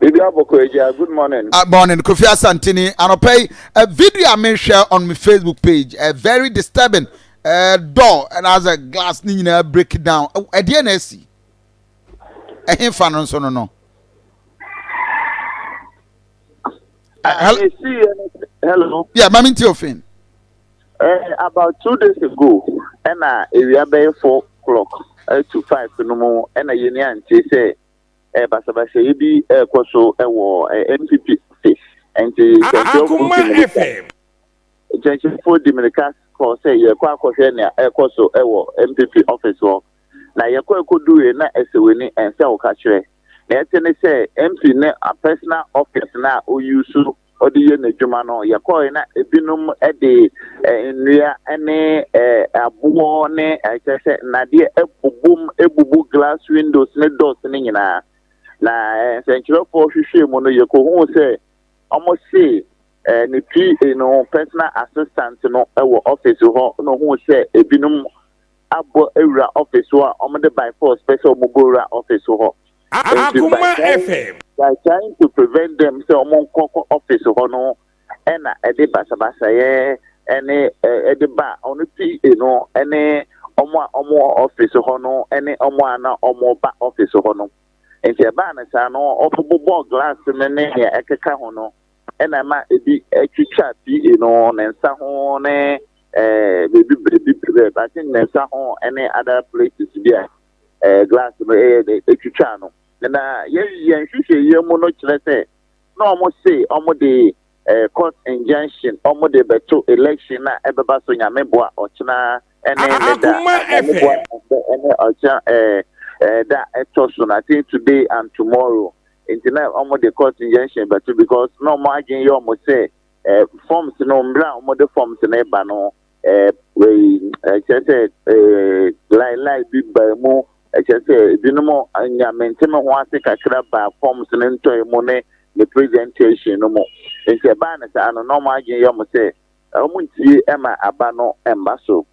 Bibi Aboko Agya, good morning. Uh, morning, Kofi Asantini. Anɔpa yi, a video a mehwɛ on my Facebook page, uh, very disturbing. Uh, door and as a glass ni nyinaa break down. Ɛdeɛ uh, na esi. Ɛhe fa no nso no no. Uh, hello. Yeah, mami ti ofin. Uh, about two days ago, ɛna ewia bɛyɛ four o'clock uh, to five no mu ɛna yɛn ni ante sɛ. eh, basabasayɛ bi rekɔ so wɔ eh, mpp office nti nkyɛnkyerɛfoɔ di mmirika nkyɛnkyerɛfoɔ di mmirika kɔ sɛ yɛkɔ akɔhwɛ nea ɛrekɔ so wɔ mpp office hɔ na yɛkɔ ɛkɔduruiɛ na ɛsɛ w'ani ɛnsɛ wo ka kyerɛ na ɛte ne sɛ mp ne a personal office na a ɔyi so ɔde yɛ n'adwuma no, yɛkɔe na ebinom de eh, nnua ne eh, aboɔ ne eh, kyerɛ sɛ nnadeɛ abubom abubu glass windows ne doors no nyinaa na eh, nsɛnkyerɛfoɔ hwehwɛɛ mu no yɛkɔhuu sɛ ɔmo se eh, ne PA no personal assistant no wɔ office hɔ na ohuu sɛ ebinom abɔ awura office hɔ a ɔmo de by force pɛ sɛ ɔmo bɔ wura office hɔ. Nti by trying by trying to prevent them sɛ ɔmo nkɔ kɔ office hɔ no ɛna ɛde basabasayɛ ɛne ɛde ba ɔno PA no ɛne ɔmo a ɔmo wɔ office hɔ no ɛne ɔmo a na ɔmo ba office hɔ no. Nti ɛbaa no saa no ɔmo bobɔɔ glass no ne nea ɛkeka ho no. na ɛma ebi twitwa PA no, ne nsa ho ne eh, baabi biribi brɛ, but ne nsa ho ne other places bi a eh, glass no ɛyɛ dɛ ɛtwitwaa no. Na yɛn yɛn nhwehwɛeɛ mu no kyerɛ sɛ na wɔn se wɔn de eh, court injunction wɔn de bɛto election a ɛbɛba so nyame boa ɔkyena ɛne ne da ɛne ne boa ɛnɛ ɛne ɔkyɛ ɛɛ ɛɛ da ɛtɔ so na say today and tomorrow nti na wɔn de court injunction bɛto because na wɔn adwene yɛ wɔn sɛ ɛɛ forms no mmerɛ a wɔn de forms no ba no ɛɛ ɛkyɛ sɛ ɛɛ lai lai bi ba mu ɛkyɛ sɛ ebinom nyamente me ho ase kakra ba forms no ntɔe mu ne ne presentation no mu nti ɛbaa ne saa no na wɔn adwene yɛ wɔn sɛ Na wɔn ntie ɛma aba no mba so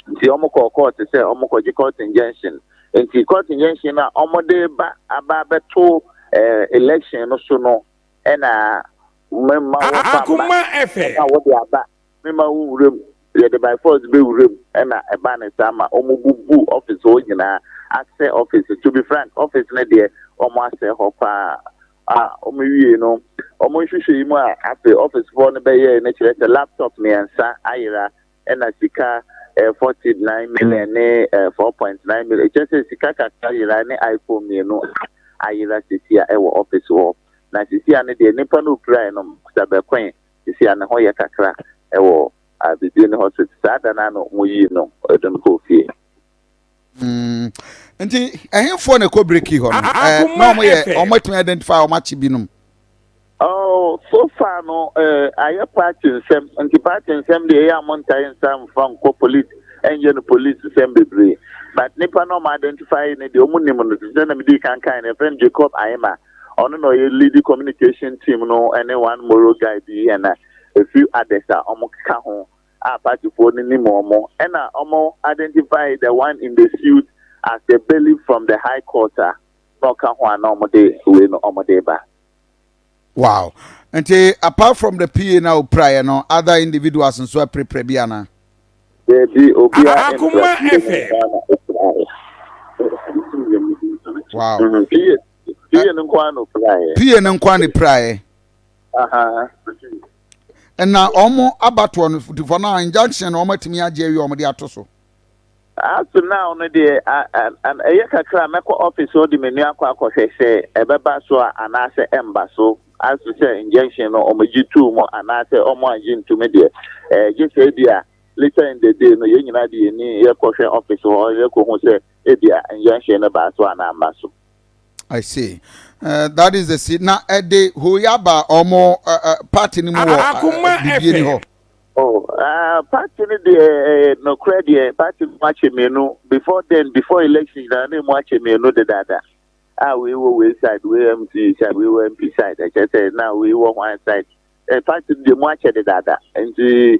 nti wɔn kɔ court sɛ wɔn kɔ gye court injunction nti court injunction no a wɔn de ba aba abɛto ɛɛ election no so no ɛna me ma wɔn fa mba ɛna wɔde aba me ma wɔn wura mu yɛde by force bɛ wura mu ɛna ɛba ne saa ma wɔn bubu office hɔ nyinaa asɛ office to be frank office no deɛ wɔn asɛ hɔ paa. a wɔwiei no, wɔn nhwehwɛe mu a afei ɔfesefo no bɛyɛe no kyerɛ sɛ laptop mmiɛnsa ayera na sika ɛɛ forty nine million ne ɛɛ four point nine million. Kyerɛ sɛ sika kakra yerae ne iPhone mmienu a ayera sisi a ɛwɔ ɔfese hɔ. Na sisi a no deɛ nipa no okurae no kuta bɛkoe. Sisi a ne ho yɛ kakra ɛwɔ a biribi nni hɔ so. Saa da no ara na wɔyii no, wɔde no kɔɔ fie. Mm. Nti ɛhenfoɔ na ɛkɔ break hɔ no ɛɛ na wɔn yɛ wɔn atumi identify wɔn akyi binom. Oh, so far no eh, ayɛ party nsɛm nti party nsɛm deɛ ɛyɛ a montae nsa mfa nkɔ police ɛnyɛ no police nsɛm bebree but nipa na ɔma identify ne deɛ ɔmo nim no sɛ na medi kan kan no ɛfrɛ no jacob ahema ɔno na ɔyɛ lead communication team no ɛne one moro guy bi ɛna efi adɛs a ɔmo ka ho a partyfoɔ no nim wɔn, ɛna wɔn identify the one in the suit as the bailiff from the high court a na ɔka ho a na wɔn de wei no wɔn de ba. Wow. Nti apart from the PA na opiraeɛ no, other individuals nso apirapira bi ana? Daabi, obiara mpira PA na opiraeɛ. Wow. Mm, PA, PA no nko ara na opiraeɛ. PA no nko ara na opiraeɛ. Aha. na wɔn abatoɔ no tifɔ no injunction na wɔn atumi agye awie wɔn de ato so. as to now no deɛ ɛyɛ kakra mɛkɔ office hɔ de me nua akɔ akɔhwɛ sɛ ɛbɛba so a anaasɛ ɛmba so as to sɛ injunction no wɔn gye tuu mu anaasɛ wɔn agye ntumi deɛ ɛɛ gye sɛ ebi a later in the day no yɛn nyinaa de yɛn ni yɛkɔhwɛ office hɔ yɛkɔhu sɛ ebi a injunction no baa so anaa mba so. I see. Uh, that is the seed. Na ɛde hoyaba ɔmo uh, party ni mu wɔ uh, bibie ni hɔ. Oh, uh, party ni deɛ ɛyɛ nɔkorɛ deɛ party mu akyɛ mmienu before then before election na ne mu akyɛ mmienu de dada. A wei wɔ wei side wei MC side wei wɔ MP side ɛkyɛ sɛ na wei wɔ wɔn side. Ɛ party ni deɛ mu akyɛ de dada nti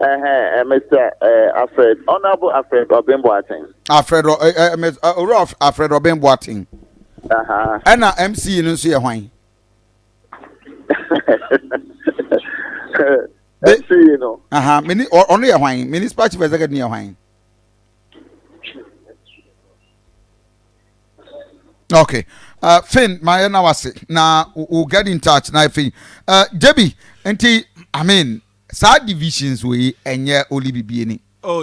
Uh-huh, Mr. Uh, Alfred, Honorable Alfred Obin Boateng. Alfred, uh, uh, Mr. Uh, Oro Alfred Obin Boateng. Uh-huh. And uh, MC no nso yɛ hwan? MC no. Uh-huh. Mini, ɔno yɛ hwan? Municipal Chief Executive yɛ hwan? okay uh, fin ma yɛ na wase na we'll get in touch na afei uh, debi nti i mean saa divisions wei ɛnyɛ oli bibie ni oh,